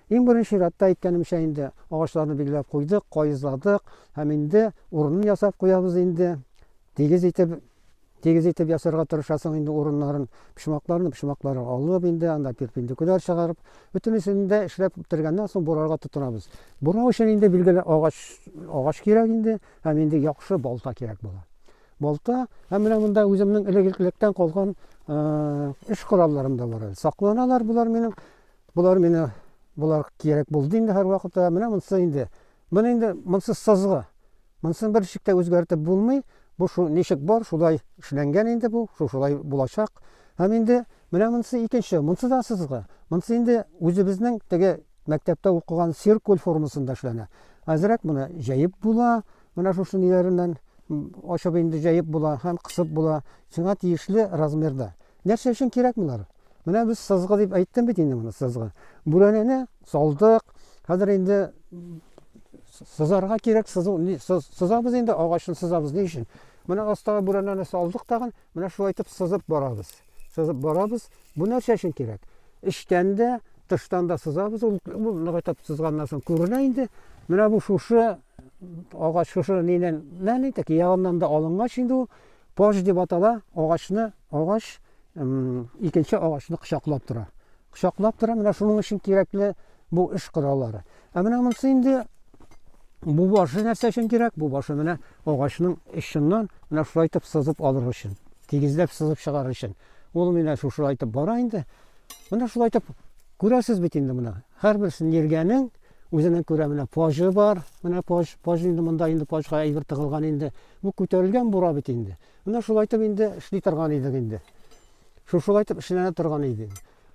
Иң беренче чиратта, әйткәнемчә инде, агачларны билгеләп куйдык, каезладык һәм инде урынын ясап куябыз инде. Тигез итеп, тигез итеп ясарга тырышасың инде урыннарын, почмакларны почмаклары алып инде, анда перпендикуляр чыгарып, бөтенесен дә эшләп бетергәннән соң бурарга тотынабыз. Бурау өчен инде билгеле агач, агач кирәк инде һәм инде яхшы балта кирәк була. Балта һәм менә монда үземнең элек-электән калган эш коралларым да бар әле. Сакланалар болар минем Болар мина болар кирәк булды инде һәрвакытта. Менә монсы инде. Моны инде монсы сызгы. Монсын бер ничек тә үзгәртеп булмый. Бу шу ничек бар, шулай эшләнгән инде бу, шу шулай булачак. Һәм инде менә монсы икенче, монсы да сызгы. Монсы инде үзебезнең теге мәктәптә укыган циркуль формасында эшләнә. Әзрәк моны җәеп була, менә шушы ниләреннән м, ачып инде җәеп була һәм кысып була, сиңа тиешле размерда. Нәрсә өчен кирәк болар? Менә без сызгы дип әйттем бит инде моны, сызгы. Бүрәнәне салдык, хәзер инде сызарга кирәк, сызу, сызабыз инде, агачны сызабыз ни өчен? Менә астагы бүрәнәне салдык тагын, менә шулай итеп сызып барабыз. Сызып барабыз. Бу нәрсә өчен кирәк? Эчтән дә, тыштан да сызабыз. Ул ныгайтып сызганнан соң күренә инде. Менә бу шушы агач шушы нинен, нәни тәки ягыннан да алынгач инде ул Пож дип атала, агачны, агач икенче агачны кочаклап тора. Кочаклап тора, менә шуның өчен кирәкле бу эш кораллары. Ә менә монысы инде бу башы нәрсә өчен кирәк? Бу башы менә агачның эченнән менә шулай итеп сызып алыр өчен, тигезләп сызып чыгарыр өчен. Ул менә шушылай итеп бара инде. Менә шулай итеп күрәсез бит инде менә. Һәрбер синергиянең үзенең күрә менә пожы бар. Менә пож, пож инде монда инде пожга әйбер тыгылган инде. Бу күтәрелгән бура бит инде. Менә шулайтып инде эшли торган идек инде. Шушылайтып эшләнә торган иде.